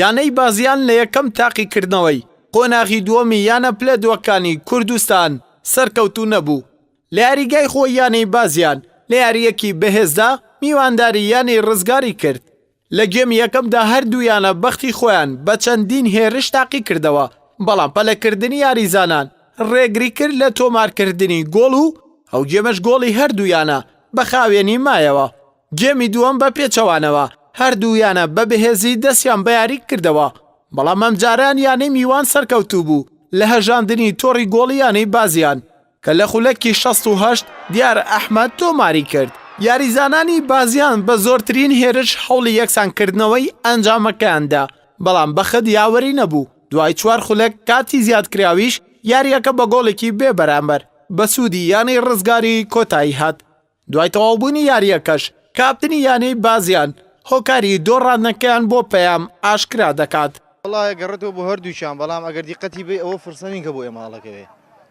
یانەی بازیان لە یەکەم تاقیکردنەوەی قۆناغی دووەمی یانە پلە دووەکانی کوردستان سەرکەوتوو نەبوو، لە یاریگای خۆی یانەی بازیان لە یارییەکی بەهێزدا میوانداری یانەی ڕزگاری کرد، لە گێمی یەکەمدا هەردوو یانە بەختی خۆیان بە چەندین هێرش تاقیکردەوە، بەڵام پەلەکردنی یاریزانان رێگریکرد لە تۆمارکردنی گۆڵ و ئەو گێمەش گۆڵی هەردوو یانە بە خاوێنی مایەوە. گێمی دووەم بە پێچەوانەوە هەردوو یانە بە بەهێزی دەستیان بە یاری کردەوە، بەڵام ئەمجارەیان یانەی میوان سەرکەوتوو بوو لە هەژاندنی تۆڕی گۆڵی یانەی بازیان. کە لە خولەکی شەست و هەشت دیار ئەحمەد تۆماری کرد، یاریزانانی بازیان بە زۆرترین هێرش هەوڵی یەکسانکردنەوەی ئەنجامەکەیان دا، بەڵام بەخت یاوەری نەبوو، دوای چوار خولەک کاتی زیادکراویش یارییەکە بە گۆڵێکی بێبەرامبەر بە سوودی یانەی ڕزگاری کۆتایی هات. دوای تەواوبوونی یارییەکەش کاپتنی یانەی بازیان هۆکاری دۆڕاندنەکەیان بۆ پەیام ئاشکرا دەکات. وەڵا ئەگەڕێتەوە بۆ هەردووکیان بەڵام ئەگەر دیقەتی بەی ئەوە فرسە نین کە بۆ ئێمە هەڵەکەوێ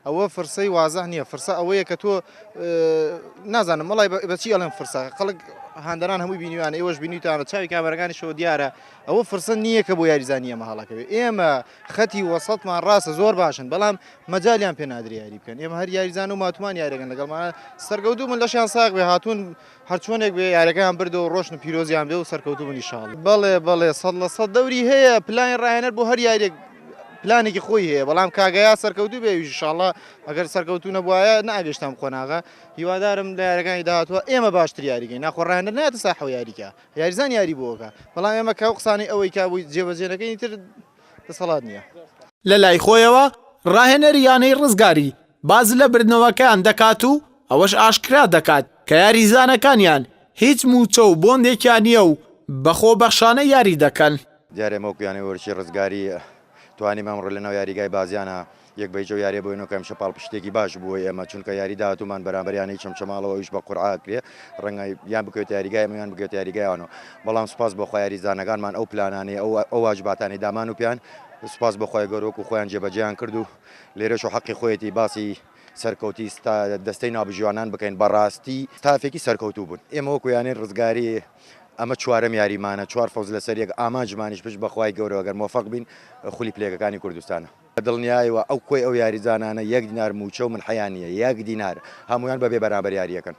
ئەوە فرسەی وازح نیە فرسە ئەوەیە کە تۆ نازانم وەڵای بە چی ئەڵێم فرسە خەڵک هاندەران هەمووی بینیوانە ئێوەش بینیوتانە چاوی کامەرەکانیشەوە دیارە ئەوە فرسە نییە کە بۆ یاریزانانی ئێمە هەڵەکەوێ ئێمە خەتی وەسەتمان ڕاستە زۆر باشن بەڵام مەجالیان پێ نادرێ یاری بکەن ئێمە هەر یاریزان و ماتمان یارەکەن لەگەڵمانە سەرگەوتو من لەشیان ساق بێ هاتوون هەرچۆنێک بێ یارەکەیان بردە و ڕۆشن و پیرۆزیان بێ و سەرکەوتو منی شاڵ بەڵێ بەڵێ سەد لە سەد دەوری هەیە پلانی ڕاهێنەر بۆ هەر یاریێک پلانێکی خۆی هەیە بەڵام کاگەیا سەرکەوتو بێ شاڵە ئەگەر سەرکەوتو نەبواە ناگەشتم قۆناغا هیوادارم لە یارەکانی داهاتوە ئێمە باشتر یاریگەین ناخۆڕانە ناتە ساحەوە یاریکە یاریزان یاری بۆ ئەکا بەڵام ئێمە کە ئەو قسانەی ئەوەی کا بۆی جێبەجێ نەکەین ئیتر دەسەڵات نییە. لەلای خۆیەوە راهێنەری یانەی رزگاری باس لە بردنەوەکەیان دەکات و ئەوەش ئاشکرا دەکات کە یاریزانەکانیان هیچ مووچە و بۆندێکیان نییە و بە خۆبەخشانە یاری دەکەن. دیارە ئێمە وەکو یانەی وەرزشی رزگاری توانیم ئەمڕۆ لەناو یاریگای بازیان یەک بە هیچ ئەو یاریە بۆ هێنەوە کە ئەمشە پاڵپشتێکی باش بوو بۆ ئێمە چونکە یاری داهاتوومان بەرامبەر یانەی چەمچەماڵەوە ئەویش بە قورعە کرێ ڕەنگە یان بکەوێتە یاریگای ئێمە یان بکەوێتە یاریگای ئەوانەوە بەڵام سوپاس بۆ خوا یاریزانەکانمان ئەو پلانانەی ئەو ئەو واجباتانەی دامان و پێیان سوپاس بۆ خۆی گەورە وەکو خۆیان جێبەجێیان کرد و لێرەش و حەقی خۆیەتی باسی سەرکەوتی ستا دەستەی نابژیوانان بکەین بەڕاستی تافێکی سەرکەوتوو بوون ئێمە وەکو یانەی ڕزگاری ئەمە چوارەم یاریمانە چوار فەوز لەسەر یەک ئامانجمانیش پشت بەخوای گەورەوەگەر مۆفەق بین خولی پلێگەکانی کوردستانە بە دڵنیایەوە ئەو کۆی ئەو یاریزانانە یەک دینار مووچە و ملحیان نییە، یەک دینار، هەموویان بە بێ بەرامبەر یارییەکەن.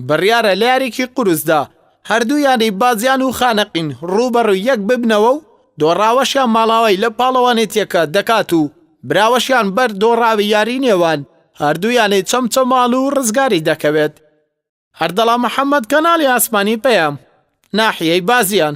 بڕیارە لە یاریی قورسدا هەردوو یانەی بازیان و خانەقین رووبەڕووی یەک ببنەوە و دۆڕاوەشیان ماڵاوای لە پاڵەوانێتییەکە دەکات و براوەشیان بەر دۆڕاوی یاریی نێوان هەردوو یانەی چەمچەماڵ و رزگاری دەکەوێت. ئەردەڵا محەمەد، کەناڵی ئاسمانی پەیام، ناحیەی بازیان.